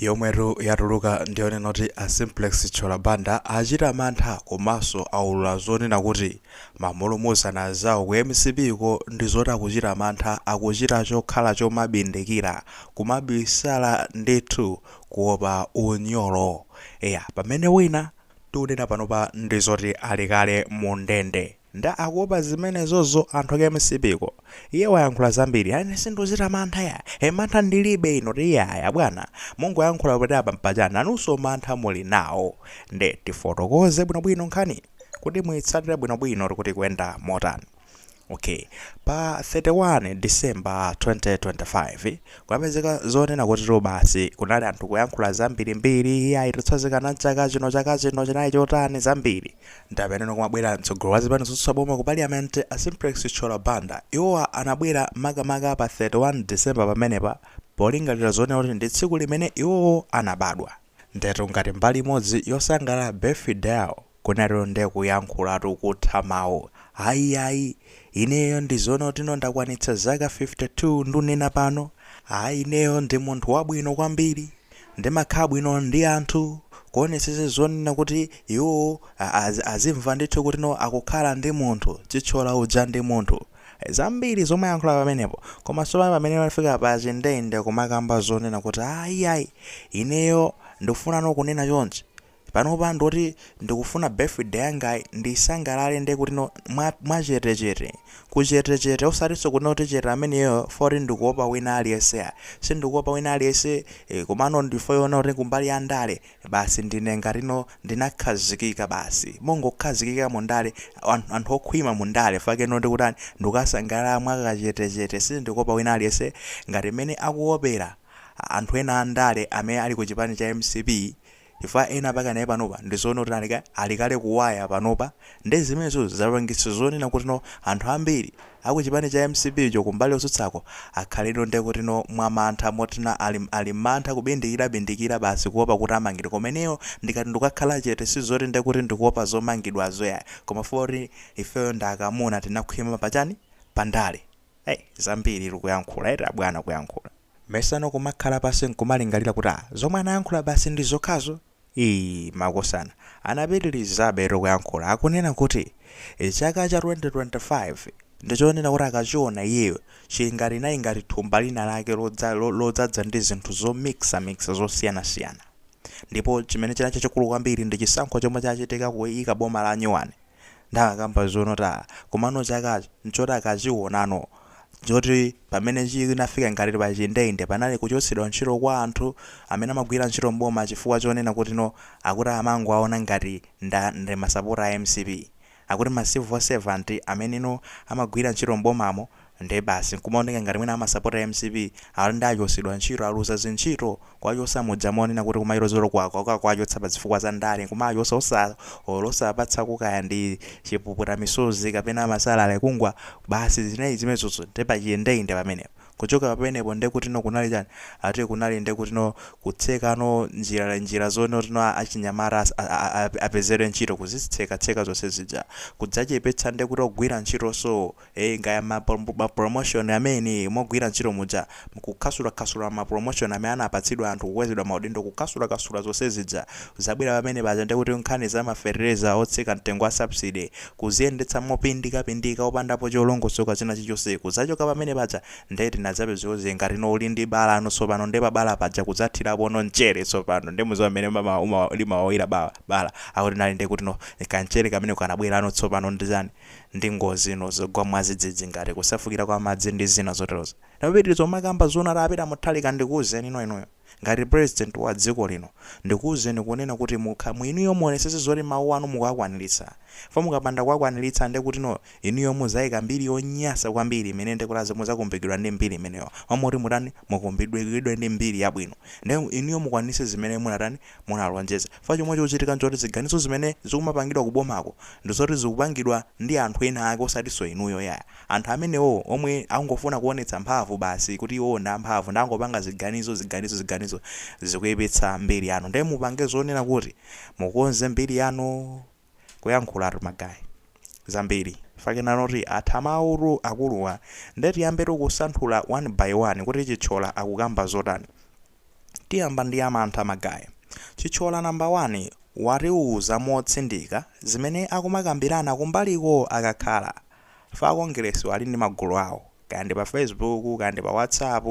yomwetu yatuluka ndiyonena kuti a Simplex Chithyola Banda achita mantha komanso aulula zonena kuti ma mulumuzana anzawo ku mcp ko ndi zoti akuchita mantha akuchita chokhala chomabindikira, kumabisala ndithu kuopa unyolo. Eya pamene wina tikunena panopa ndi zoti ali kale mu ndende. Nde akuopa zimenezozo anthu aku mcp ko iye wayankhula zambiri ine sindikuchita mantha ya e mantha ndilibe inu tiyayi bwana mungoyankhula poti apa mpachana nanunso mantha muli nawo nde tifotokoze bwino bwino nkhani kuti muitsatire bwino bwino kuti ikuenda motani ok pa 31 December 2025 kunapezeka zonena kutitu basi kunali anthu kuyankhula zambirimbiri iyayi tikutsazikana nchaka chino chaka chino chinali chotani zambiri Nde pamene kumabwera mtsogoleri wa zipani zotsutsa boma ku Parliament a Simplex Chithyola Banda, iwowa anabwera makamaka pa 31 December pamenepa polingalira zonena kuti ndi tsiku limene iwowo anabadwa. Ndiyetu ngati mbali imodzi yosangalala birthdayo, kunalitu nde kuyankhulatu kutha mawu. Ayi ayi, ineyo ndi zoona kutino ndakwanitsa zaka 52 ndunena pano, ayi ineyo ndi munthu wabwino kwambiri. Ndimakhala bwino ndi anthu, kuonetsetsa zonena kuti iwo azimva ndithu kuti no akukhala ndi munthu, Chithyola uja ndi munthu. Zambiri zomwe ayankhula pamenepo, koma tsopano pamene wafika pa chindende kumakamba zonena kuti ayi ayi ineyo ndikufuna no kunena chonchi, Panopa ndoti ndikufuna birthday yangayi ndiisangalale nde kutino mwa mwa chete chete, ka chete chete osatinso kunena kuti chete ameneyo fo kuti ndikuopa wina aliyense ayi, sindikuopa wina aliyense eh komano ndi fo yoona kuti kumbali ya ndale basi ndine ngatino ndinakhazikika basi mongokhazikika mu ndale anthu okhwima mu ndale chifukwa chake ndoti kutani ndikusangalala mwa ka chete chete sindikuopa wina aliyense ngati mmene akuopera anthu ena a ndale amene ali ku chipani cha mcp chifukwa ena pake naye panopa ndizoona kuti ali ka ali kale kuwaya panopa nde zimenezo zapangitsa zonena kuti no anthu ambiri aku chipani cha mcp cho kumbali yotsutsako akhaleno nde kuti no mwa mantha moti ena ali ali mmantha kubindikira bindikira basi kuopa kuti amangidwe koma ineyo ndikati ndikakhala chete sizoti nde kuti ndikuopa zomangidwazo yayi koma fukwa kuti ifeyo ndi akamuna tinakhwima pa chani pa ndale hey zambiri kuyankhula eti abwana kuyankhula. Mesa no kumakhala pansi nkumalingalira kuti ah zomwe anayankhula basi ndi zokhazo? Iii makosana. Anapitilizabetu kuyankhula akunena kuti chaka cha 2025 ndi chonena kuti akachiona iyeyo chili ngati inali ngati thumba lina lake lodzadza ndi zinthu zo mixa mixa zosiyana siyana. Ndipo chimene chinali chachikulu kwambiri ndi chisankho chomwe chachitika kuika boma la nyuwani. Ndakamba zonota komano chakachi nchoti chachiwonano nchoti pamene chinafika ngati pachindende panali kuchotsedwa ntchito kwa anthu amene amagwira ntchito m'boma chifukwa chonena kutino akuti amangowaona ngati nda ndi masapota a MCP. Akuti ma civil servant ameneno amagwira ntchito m'bomamo Nde basi nkumaoneka ngati mwina amasapota MCP ati nde achosedwa ntchito aluza zintchito kuwachosa muja monena kuti kumailo zero kwakwa kuwachotsa pazifukwa za ndale nkumawachosa osa or osawapatsako kaya ndi chipuputa misozi kapena ma salary kungoti basi zinali zimezozo nde pachindeinde nde pamenepo kuchoka pamenepo nde kutino kunali chani ati kunali nde kutino kutseka no njira njira zonotino achinyamata apezere ntchito kuzitseka tseka zonse zija kudzachepetsa nde kuti ogwira ntchitoso ee kaya ma promotion amene mogwira ntchito muja kukhasulakhasula ma promotion amene anapatsidwa anthu kukwezedwa maudindo kukhasulakhasula zonse zija zabwera pamene paja ndiye kuti nkhani za ma fetereza otsika mtengo a subsidy kuziyendetsa mopindikapindika opandapo cholongosoka china chichonse kudzachoka pamene paja ndiye tinadzapezeke ngati no uli ndi bala no tsopano ndiye pa bala paja kudzathirapo no mchere tsopano ndiye mukudziwa mmene limawawira bala akuti nali ndiye kuti no ka mchere kameneko kanabwera no tsopano ndi chani ndi ngozi ino zogwa mwazidzidzi ngati kusefukira kwa madzi ndi zina zoterozo wapitiliza kumakamba zonoti a Peter Mutharika ndikuuzeni no inuyo ngati president wa dziko lino ndikuuzeni kunena kuti mukha mu inuyo muonesese zoti mau anu mukuwakwanilitsa fa mukapanda kuwakwanilitsa nde kuti no inuyo muzaika mbiri yonyasa kwambiri imene nde kuti muzakumbukidwa ndi mbiri imeneyo mwina moti mutani mukumbukidwe ndi mbiri yabwino nde inuyo mukwanilitse zimene munatani munalonjeza. Fa chomwe chikuchitika nchoti ziganizo zimene zikumapangidwa ku bomako ndizoti zikupangidwa ndi anthu ena ake osatinso inuyo yayi. Anthu amenewowo omwe angofuna kuonetsa mphamvu basi kuti iwowo ndi amphamvu nde angopanga ziganizo, ziganizo, ziganizo zikuyipitsa mbiri yanu. Nde mupange zonena kuti mukonze mbiri yanu. kuyankhulatu ma guy zambiri fakenanoti atha mawutu akuluwa nde tiyambetu kusanthula one by one kuti Chithyola akukamba zotani tiyamba ndi ya mantha ma guy Chithyola number one watiuza motsindika zimene akumakambirana kumbaliko akakhala Fa Akongeresiwa ali ndi magulu awo. Kaya ndi pa Facebook, kaya ndi pa WhatsApp,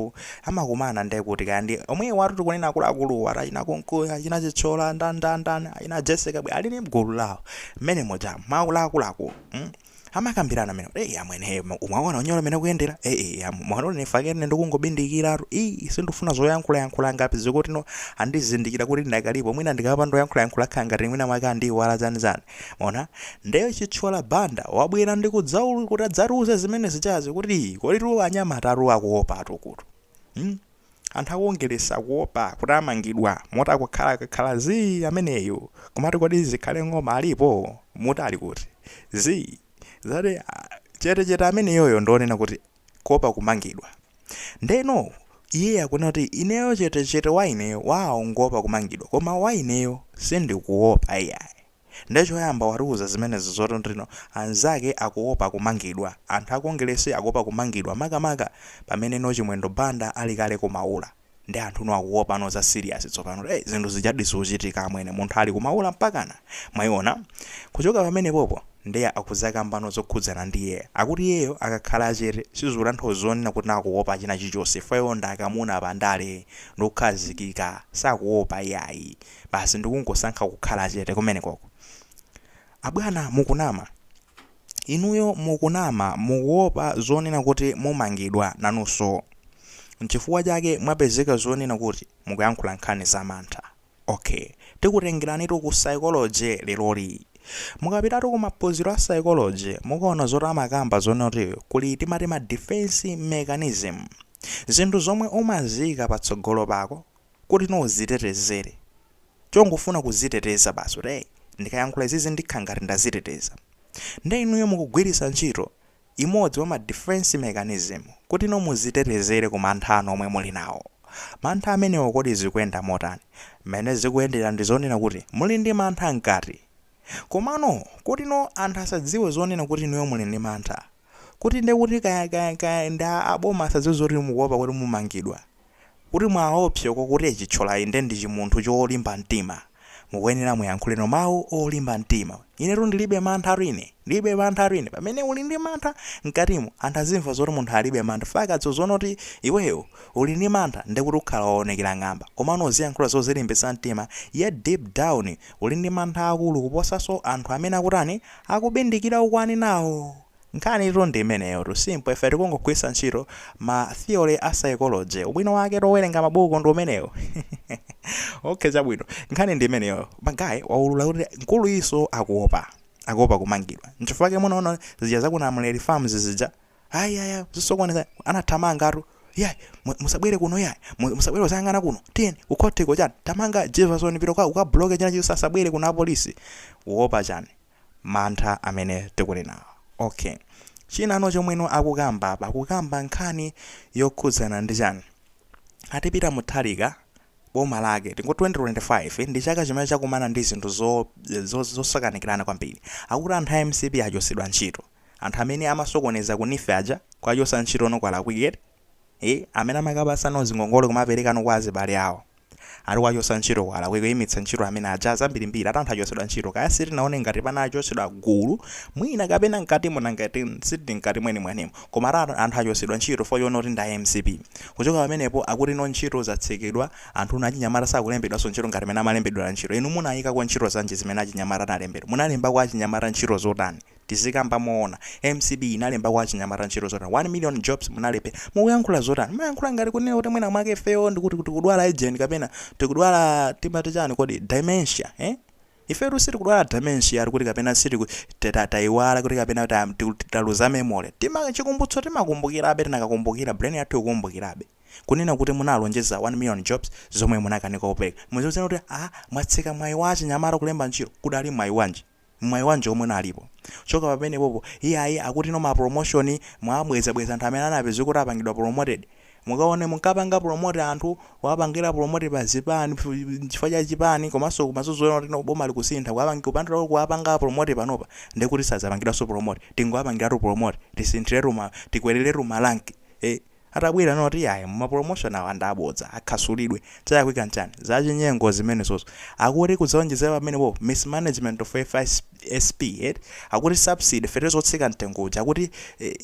amakumana nde kuti kaya ndi omwewatu tikunena akuluakuluwa ati achina Kunkuyu, achina Chithyola, ndani ndani ndani, achina Jessy Kabwila ali ndi gulu lawo mmene muja cha akuluakulu mm amakambirana mmene kuti eyi amwene he mwaona unyolo mmene ukuyendera eyi eyi am- mwaona kuti nifake ine ndikungobindikiratu ii sindifuna zoyankhula yankhula ngati zikutino andizindikira kuti ndakalipo mwina ndikapanda kuyankhula yankhula khala ngati mwina mwake andiiwala zani zani Mwaona? Nde Chithyola Banda wabwera ndi kudzaulu kuti adzatiuze zimene zichazi kuti koditu anyamatatu akuopatu kutu. Hmm? Anthu a Kongeresi akuopa kuti amangidwa moti akukhala kakhala zii ameneyu kumati kodi Zikhale Ng'oma alipo? Muti ali kuti? Zii. Zati ah, chete chete ameneyoyo ndi onena kuti kuopa kumangidwa. Ndeno iye akunena kuti ineyo chete chete wa ineyo waongoopa kumangidwa koma wa ineyo sindikuopa iyayi. Nde choyamba watiuza zimenezi zoti ndino anzake akuopa kumangidwa. Anthu a Kongeresi akuopa kumangidwa makamaka pamene no Chimwendo Banda ali kale ku Maula. Nde anthunu akuopano za serious tsopano eh zinthu zijadi zikuchitika amwene munthu ali ku Maula mpakana mwaiona kuchoka pamenepopo nde akudzakambano zokhudzana ndi iyeyo akuti iyeyo akakhala chete sizikutanthauza zonena kuti akuopa china chilichonse chifukwa iwo ndi akamuna pa ndale ndi okhazikika sakuopa iyayi basi ndikungosankha kukhala chete kumenekoko abwana mukunama Inuyo mukunama, mukuopa zonena kuti mumangidwa nanunso. N'chifukwa chake mwapezeka zonena kuti mukuyankhula nkhani zamantha. Ok, tikutengeranitu ku Psychology leroli. Mukapitatu ku maphunziro a Psychology, mukaona zoti amakamba zonena kuti kuli timati ma defense mechanism. Zinthu zomwe umaziika patsogolo pako kutino uzitetezere chongofuna kuziteteza basi kuti hey ndikayankhula izizi ndikhala ngati ndaziteteza nde inuyo mukugwiritsa ntchito imodzi wa ma defense mechanism kutino muzitetezere ku mantha anu omwe muli nawo mantha amenewo kodi zikuyenda motani mmene zikuyendera ndi zonena kuti muli ndi mantha mkati komano kutino anthu asadziwe zonena kuti inuyo muli ndi mantha kuti ndekuti kaya kaya kaya ndi aboma asadziwe zoti mukuopa kuti mumangidwa Kuti muwaopseko kuti Chithyolayi nde ndi chimunthu cholimba mtima. Mukuyenera muyankhuleno mau olimba mtima. Inetu ndilibe mantha ine. Ndilibe mantha ine. Pamene uli ndi mantha mkatimo anthu azimva zoti munthu alibe mantha chifukwa akaziona kuti iweyo uli ndi mantha nde kuti ukhala waonekera ng'amba. Komano uziyankhula zozilimbitsa mtima yet deep down uli ndi mantha akulu kuposanso anthu amene akutani akubindikira mukuwanenawo. Nkhanitu ndi imeneyotu, simple, ife tikungogwiritsa ntchito ma theory a psychology. Ubwino wake owerenga mabuku ndi umenewo. Okay, chabwino. Nkhani ndi imeneyo. Ma guy waulula kuti mkuluyinso akuopa. Akuopa kumangidwa. Nchifukwa chake munaona zija za ku Namuleli Farms zija. Ayi, ayi, ayi, zosokoneza. Anathamangatu. Yayi, mu- musabwere kuno yayi. Mu- Musabwere kudzayang'ana kuno. Tiyeni, ku court ko chani. Tamanga Jefferson pita uka- ukabloke china chilichonse asabwere kuno apolisi. Uopa chani? mantha amene tikunenawo ok chinano chomweno akukamba apa akukamba nkhani yokhudzana ndi chani ati Pita Mutharika boma lake tingo 2025 ndi chaka chimene chakumana ndi zinthu zo, zo, zosakanikirana kwambiri akuti anthu a mcp achotsedwa ntchito anthu amene amasokoneza kunifu aja kuwachotsa ntchito no kwalakwika eti e amene amakapatsana zingongole kumapereka no kwa azibale awo Ati kuwachotsa ntchito kwalakwika kuimitsa ntchito amene aja zambirimbiri ati anthu achotsedwa ntchito kaya sitinaone ngati pano achotsedwa gulu mwina kapena mkatimo nanga eti sitili mkati mwenimwenimo koma ati anthu achotsedwa ntchito fukwa choona kuti ndi a mcp kuchoka pamenepo akuti no ntchito zatsekedwa anthu achinyamata sakulembedwaso ntchito ngati mene amalembedwera ntchito inu munaikako ntchito zanji zimene achinyamata analembedwa munalembako achinyamata ntchito zotani tizikamba moona mcp inalembako achinyamata ntchito zotani 1 million jobs munalephera mukuyankhula zotani mukuyankhula ngati kunena kuti mwina mwake ifeyo ndikuti kuti tikudwala agent kapena tikudwala timati chani kodi dementia eh? ifetu sitikudwala dementia kuti kapena sitiku ta- ta- tayiwala kuti kapena ta- tiku- taluza memory chikumbutso timakumbukirabe tinakakumbukira brain yathu ikukumbukirabe kunena kuti munalonjeza 1 million jobs zomwe munakanika kupereka muziwuzana kuti a mwatseka mwayi wa achinyamata kulemba ntchito kudali mwayi wanji Mwayi wanji omwe unalipo? Kuchoka pamenepopo, iyayi akuti no ma promotion mwawabweza bweza anthu amene anapeza kuti apangidwa promoted. Mukaone munkapanga promote anthu, kuwapangira promote pa zipani, chifukwa cha chipani komanso kumazozoona kuti no boma likusintha kuwapangi kupandira kuwapanga promote panopa ndekuti sadzapangidwanso promote. Tingowapangiratu promote, tisinthiretu ma, tikweleletu ma rank. Eeh. atabwera anena kuti ayi ma promotion awa ndi abodza akhasulidwe, chalakwika nchani? Zachinyengo zimenezozo. Akuti kudzawonjezera pamenepopo mismanagement of fisp eti? Akuti subsidy fetereza wotsika mtengo uja akuti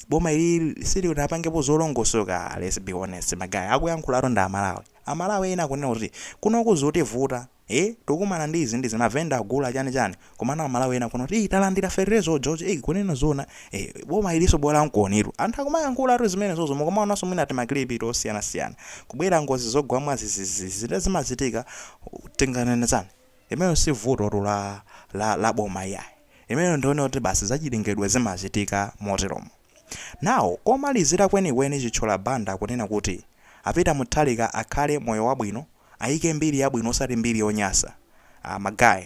boma ilili silinapangepo zolongosoka let's be honest ma guy akuyankhulawotu ndi amalawi. Amalawi ena akunena kuti kunoko zikutivuta. ee tikukumana ndi izi ndizi mavenda agula chani chani komano amalawi ena akunena kuti talandira fertilizer ojojo ee kunena zoona ee boma iliso bola mukuonatu anthu akumayankhulatu zimenezozo mukumaonanso mwina timakilipi tosiyana siyana kubwera ngozi zogwa mwadzidzidzi nde zimachitika tinganene chani limenelo si vutotu la la la boma iyayi limenelo ndiyeno kuti basi zachilengedwe zimachitika moteromo. Now komalizira kwenikweni Chithyola Banda akunena kuti a Peter Mutharika akhale moyo wabwino aike mbiri yabwino osati mbiri yonyasa ah ma guy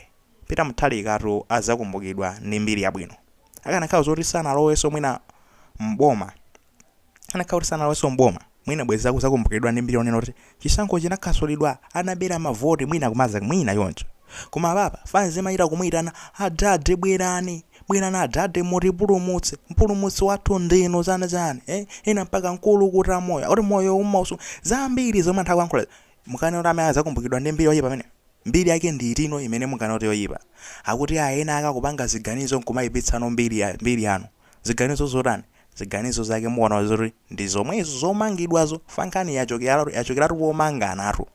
Peter Mutharikatu adzakumbukidwa ndi mbiri yabwino akanakhala zoti sanaloweso mwina m'boma akanakhala kuti sanaloweso m'boma Mwina bwezi akuzakumbukiridwa ndi mbiri yonena kuti chisankho chinakasulidwa anabera ma vote mwina kumadza mwina choncho koma apapa fanz imachita kumuitana adad bwerani bwerani adad mutipulumutse mpulumutsi wathu ndinu chani chani eeh ena mpaka mkulukuta moyo akuti moyo umausunga zambiri zomwe anthu akuyankhulazi mukanena kuti amene azakumbukiridwa ndi mbiri yoyipa ameneyo mbiri yake ndi iti no imene munganene kuti yoyipa akuti aah enaake akupanga ziganizo nkumaipitsano mbiri mbiri yanu ziganizo zotani ziganizo zake muona zoti ndi zomwezo zomangidwazo fa nkhani yachokera yachokeratu pomanganatu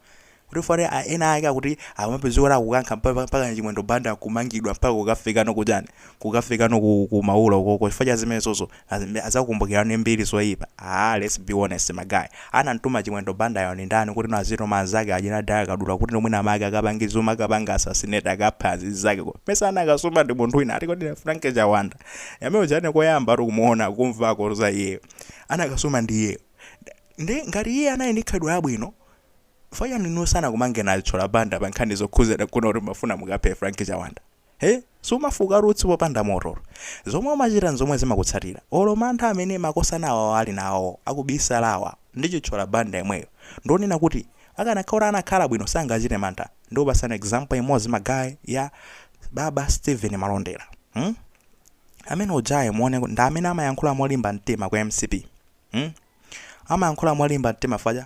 kuti fare a- ena ake akuti amapezeka kuti akukankha mpaka mpaka chimwendo banda kumangidwa mpaka kukafikano kuchani kukafikano ku, ku maula uko chifukwa cha zimenezozo azimbe- azakumbukiridwa ndi mbiri zoyipa ah let's be honest magayi anamtuma chimwendo banda yo ndi ndani kuti nazitoma anzake achina dyna kadula kuti no mwina mwake akapange zo mukapanga assassinate akapha anzake ko mesa anakasuma ndi munthu wina ati kodi frank chiwanda amene uja ine koyamba ndi kumuona kumvako za iyeyo anakasuma ndi iyeyo nde ngati iye anali ndi khalidwe labwino fa chani iwo sanakamange nayo chithyola banda pa nkhani zokhuzira kunena kuti mumafuna mukaphe frank chiwanda he sumafuka utsi popanda moto zomwe umachita nzomwe zimakutsatira olo mantha amene makosana awawa ali nawo akubisalawa ndi chithyola banda yemweyo ndonena kuti akanakhala anakhala bwino sangachite mantha ndikupatsani example imodzi magayi ya baba steven malondera Hmm? Amene ujaye muone kuti ndi amene amayankhula molimba mtima ku mcp. Hmm? Amayankhula molimba mtima fwa chani.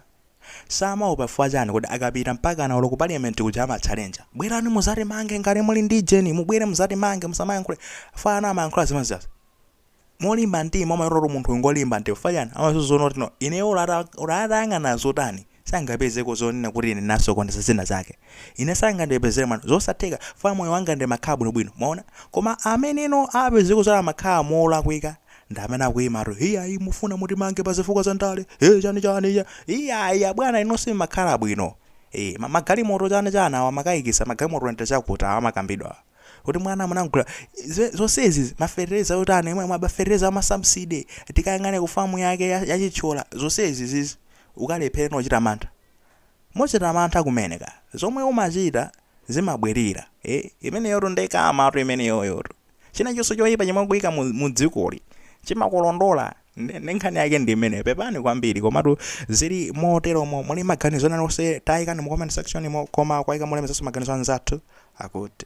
Samaopa fwa chani kodi akapita mpakana olo ku parliament kuja amachalenja. Bwerani muzatimange ngati muli ndi jeni mubwere muzatimange musamayankhule. Fwa chani amayankhula zimene zija. molimba mtima umaona kuti munthu ngolimba mtima chifukwa chani amaziona kuti no ineyo olo atayang'ana chotani sangapezeko zonena kuti ine ndinasokoneza zina zake ine sangandipezere mwayi zosatheka chifukwa moyo wanga ndimakhala bwinobwino mwaona koma amene no apezeko zoti amakhala molakwika ndi amene akuyimatu iyayi mufuna mutimange pa zifukwa za ndale e chani chani iyayi abwana inu simakhala bwino e magalimoto chani chani awa makayikisa magalimoto nde chakuti awa amakambidwa awa. kuti bwana munagula ze- zonsezi mafertilizer otani omwe mafertilizer amasubsidy tikayang'ane ku famu yake ya- ya chithyola zonsezizi ungalephere kuchita mantha mukuchita mantha kumene ka zomwe umachita zimabwerera eh imeneyotu ndi karma tu imeneyoyotu chinachonse choyipa chomwe ukuyika mu, mu dzikoli chimakulondola ndi ndi nkhani yake ndi imeneyo pepani kwambiri komatu zili moteromo muli ndi maganizo ena onse tayikani mu comment section mo koma kuyika molemekezanso maganizo anzathu akuti